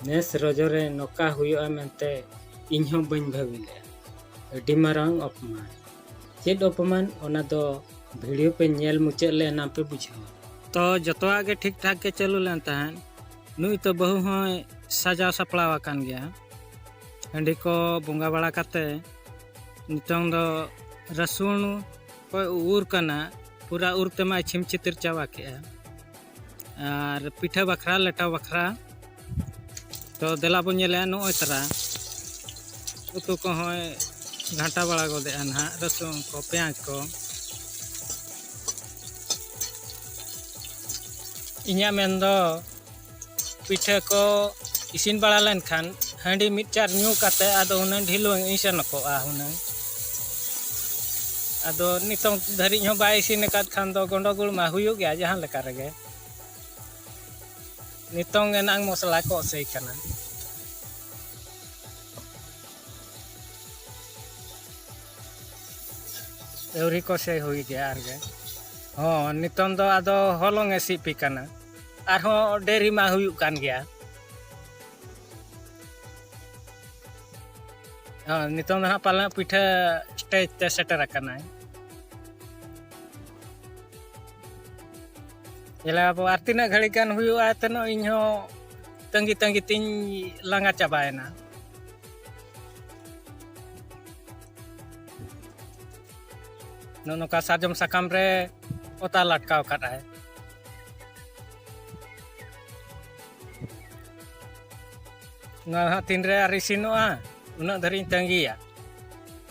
ᱱᱮᱥ ᱨᱚᱡᱚ ᱨᱮ ᱱᱚᱝᱠᱟ ᱦᱩᱭᱩᱜᱼᱟ ᱢᱮᱱᱛᱮ ᱤᱧ ᱦᱚᱸ ᱵᱟᱹᱧ ᱵᱷᱟᱹᱵᱤ ᱞᱮᱫᱼᱟ ᱟᱹᱰᱤ ᱢᱟᱨᱟᱝ ᱚᱯᱚᱢᱟᱱ ᱪᱮᱫ ᱚᱯᱚᱢᱟᱱ ᱚᱱᱟ ᱫᱚ ᱵᱷᱤᱰᱤᱭᱳ ᱯᱮ ᱧᱮᱞ ᱢᱩᱪᱟᱹᱫ ᱞᱮ ᱮᱱᱟᱝ ᱯᱮ ᱵᱩᱡᱷᱟᱹᱣᱟ ᱛᱚ ᱡᱚᱛᱚᱣᱟᱜ ᱜᱮ ᱴᱷᱤᱠ ᱴᱷᱟᱠ ᱜᱮ ᱪᱟᱹᱞᱩ ᱞᱮᱱ ᱛᱟᱦᱮᱸᱫ ᱱᱩᱭ ᱛᱚ ᱵᱟᱹᱦᱩ ᱦᱚᱸᱭ ᱥᱟᱡᱟᱣ ᱥᱟᱯᱲᱟᱣ ᱟᱠᱟᱱ ᱜᱮᱭᱟ ᱦᱟᱺᱰᱤ ᱠᱚ ᱵᱚᱸᱜᱟ ᱵᱟᱲᱟ ᱠᱟᱛᱮ ᱱᱤᱛᱚᱝ ᱫᱚ ᱨᱟᱹᱥᱩᱱ ᱠᱚᱭ ᱩᱨ ᱠᱟᱱᱟ ᱯᱩᱨᱟᱹ ᱩᱨ ᱛᱮᱢᱟᱭ ᱪᱷᱤᱢ ᱪᱷᱤᱛᱤᱨ ᱪᱟᱵᱟ ᱠᱮᱫᱼᱟ ᱟᱨ ᱯᱤᱴᱷᱟᱹ ᱵᱟᱠᱷᱨᱟ ᱞᱮᱴᱟ ᱵᱟᱠᱷᱨᱟ ᱛᱚ ᱫᱮᱞᱟ ᱵᱚᱱ ᱧᱮᱞᱮᱜᱼᱟ ᱱᱚᱜᱼᱚᱭ ᱛᱟᱨᱟ ᱩᱛᱩ ᱠᱚᱦᱚᱸᱭ ᱜᱷᱟᱸᱴᱟ ᱵᱟᱲᱟ ᱜᱚᱫᱮᱜᱼᱟ ᱱᱟᱦᱟᱜ ᱨᱟᱹᱥᱩᱱ ᱠᱚ ᱯᱮᱸᱭᱟᱡᱽ ᱠᱚ ᱤᱧᱟᱹᱜ ᱢᱮᱱᱫᱚ ᱯᱤᱴᱷᱟᱹ ᱠᱚ ᱤᱥᱤᱱ ᱵᱟᱲᱟ ᱞᱮᱱᱠᱷᱟᱱ ᱦᱟᱺᱰᱤ ᱢᱤᱫ ᱪᱟᱨ ᱧᱩ ᱠᱟᱛᱮᱫ ᱟᱫᱚ ᱦᱩᱱᱟᱹᱝ ᱰᱷᱤᱞᱣᱟᱹᱝ ᱤᱧ ᱥᱮᱱ ᱠᱚᱜᱼᱟ ᱦᱩᱱᱟᱹᱝ ᱟᱫᱚ ᱱᱤᱛᱚᱝ ᱫᱷᱟᱹᱨᱤᱡ ᱦᱚᱸ ᱵᱟᱭ ᱤᱥᱤᱱ ᱟᱠᱟᱫ ᱠᱷᱟᱱ ᱫᱚ ᱜᱚᱸᱰᱚᱜᱳᱞ ᱢᱟ ᱦᱩᱭᱩᱜ ᱜᱮᱭᱟ ᱡᱟᱦᱟᱸ ᱞᱮᱠᱟ ᱨᱮᱜᱮ ᱱᱤᱛᱚᱝ ᱮᱱᱟᱝ ᱢᱚᱥᱞᱟ ᱠᱚ ᱚᱥᱮᱭ ᱠᱟᱱᱟ ᱟᱹᱣᱨᱤ ᱠᱚ ᱥᱮᱭ ᱦᱩᱭ ᱜᱮᱭᱟ ᱟᱨᱜᱮ ᱦᱚᱸ ᱱᱤᱛᱚᱝ ᱫᱚ ᱟᱫᱚ ᱦᱚᱞᱚᱝ ᱮ ᱥᱤᱯᱤ ᱠᱟᱱᱟ ᱟᱨᱦᱚᱸ ᱰᱮᱨᱤ ᱢᱟ ᱦᱩᱭᱩᱜ ᱠᱟᱱ ᱜᱮᱭᱟ ᱱᱤᱛᱚᱝ ᱫᱚ ᱦᱟᱸᱜ ᱯᱟᱞᱮ ᱯᱤᱴᱷᱟᱹ ᱥᱴᱮᱡ ᱛᱮ ᱥᱮᱴᱮᱨ ᱟᱠᱟᱱᱟᱭ ᱡᱮᱞᱟ ᱟᱵᱚ ᱟᱨ ᱛᱤᱱᱟᱹᱜ ᱜᱷᱟᱹᱲᱤ ᱜᱟᱱ ᱦᱩᱭᱩᱜᱼᱟ ᱛᱮᱱᱚᱜ ᱤᱧ ᱦᱚᱸ ᱛᱟᱺᱜᱤ ᱛᱟᱺᱜᱤ ᱛᱤᱧ ᱞᱟᱸᱜᱟ ᱪᱟᱵᱟᱭᱮᱱᱟ ᱱᱚᱜᱼᱚ ᱱᱚᱝᱠᱟ ᱥᱟᱨᱡᱚᱢ ᱥᱟᱠᱟᱢ ᱨᱮ ᱚᱛᱟ ᱞᱟᱴᱠᱟᱣ ᱠᱟᱫᱟᱭ ᱱᱚᱣᱟ ᱦᱟᱸᱜ ᱛᱤᱱᱨᱮ ᱟᱨ ᱤᱥᱤᱱᱚᱜᱼᱟ ᱩᱱᱟᱹᱜ ᱫᱷᱟᱹᱨᱤᱡ ᱤᱧ ᱛᱟᱺᱜᱤᱭᱟ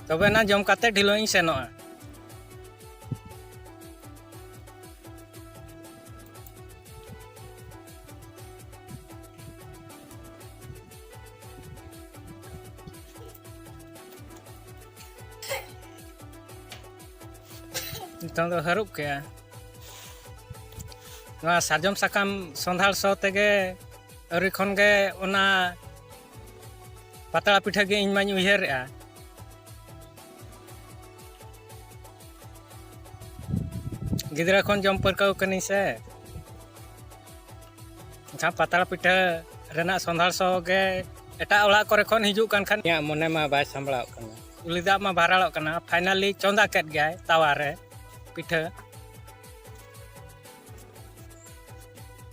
ᱛᱚᱵᱮ ᱱᱟ ᱡᱚᱢ ᱠᱟᱛᱮ ᱰᱷᱤᱞᱚᱜ ᱤᱧ ᱥᱮᱱᱚᱜᱼᱟ ᱱᱤᱛᱚᱝ ᱫᱚ ᱦᱟᱹᱨᱩᱵ ᱠᱮᱜᱼᱟ ᱱᱚᱣᱟ ᱥᱟᱨᱡᱚᱢ ᱥᱟᱠᱟᱢ ᱥᱚᱸᱫᱷᱟᱲ ᱥᱚ ᱛᱮᱜᱮ ᱟᱹᱣᱨᱤ ᱠᱷᱚᱱ ᱜᱮ ᱚᱱᱟ ᱯᱟᱛᱲᱟ ᱯᱤᱴᱷᱟᱹ ᱜᱮ ᱤᱧ ᱢᱟᱧ ᱩᱭᱦᱟᱹᱨᱮᱜᱼᱟ ᱜᱤᱫᱽᱨᱟᱹ ᱠᱷᱚᱱ ᱡᱚᱢ ᱯᱟᱹᱨᱠᱟᱹᱣ ᱠᱟᱹᱱᱟᱹᱧ ᱥᱮ ᱮᱱᱠᱷᱟᱱ ᱯᱟᱛᱲᱟ ᱯᱤᱴᱷᱟᱹ ᱨᱮᱱᱟᱜ ᱥᱚᱸᱫᱷᱟᱲ ᱥᱚ ᱜᱮ ᱮᱴᱟᱜ ᱚᱲᱟᱜ ᱠᱚᱨᱮ ᱠᱷᱚᱱ ᱦᱤᱡᱩᱜ ᱠᱟᱱ ᱠᱷᱟᱱ ᱤᱧᱟᱹᱜ ᱢᱚᱱᱮ ᱢᱟ ᱵᱟᱭ ᱥᱟᱢᱵᱲᱟᱣ ᱠᱟᱱᱟ ᱩᱞᱤ ᱫᱟᱜ ᱢᱟ ᱵᱷᱟᱨᱟᱲᱚᱜ ᱠᱟᱱᱟ ᱯᱷᱟᱭᱱᱟᱞᱤ ᱪᱚᱸᱫᱟ ᱠᱮᱫ ᱜᱮᱭᱟᱭ ᱛᱟᱣᱟ ᱨᱮ ᱯᱤᱴᱷᱟᱹ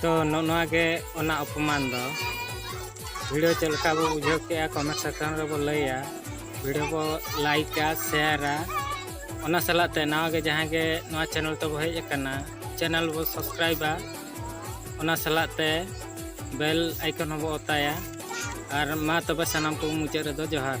ᱛᱚ ᱱᱚᱜᱼᱚ ᱱᱚᱣᱟ ᱜᱮ ᱚᱱᱟ ᱚᱯᱚᱢᱟᱱ ᱫᱚ ᱵᱷᱤᱰᱤᱭᱳ ᱪᱮᱫ ᱞᱮᱠᱟ ᱵᱚ ᱵᱩᱡᱷᱟᱹᱣ ᱠᱮᱜᱼᱟ ᱠᱚᱢᱮᱱᱴ ᱥᱮᱠᱥᱚᱱ ᱨᱮᱵᱚ ᱞᱟᱹᱭᱟ ᱵᱷᱤᱰᱤᱭᱳ ᱵᱚ ᱞᱟᱭᱤᱠᱟ ᱥᱮᱭᱟᱨᱟ ᱚᱱᱟ ᱥᱟᱞᱟᱜ ᱛᱮ ᱱᱟᱣᱟ ᱜᱮ ᱡᱟᱦᱟᱸᱭ ᱜᱮ ᱱᱚᱣᱟ ᱪᱮᱱᱮᱞ ᱛᱮᱵᱚ ᱦᱮᱡ ᱟᱠᱟᱱᱟ ᱪᱮᱱᱮᱞ ᱵᱚ ᱥᱟᱵᱥᱠᱨᱟᱭᱤᱵᱟ ᱚᱱᱟ ᱥᱟᱞᱟᱜ ᱛᱮ ᱵᱮᱞ ᱟᱭᱠᱚᱱ ᱦᱚᱸᱵᱚ ᱚᱛᱟᱭᱟ ᱟᱨ ᱢᱟ ᱛᱚᱵᱮ ᱥᱟᱱᱟᱢ ᱠᱚ ᱢᱩᱪᱟᱹᱫ ᱨᱮᱫᱚ ᱡᱚᱦᱟᱨ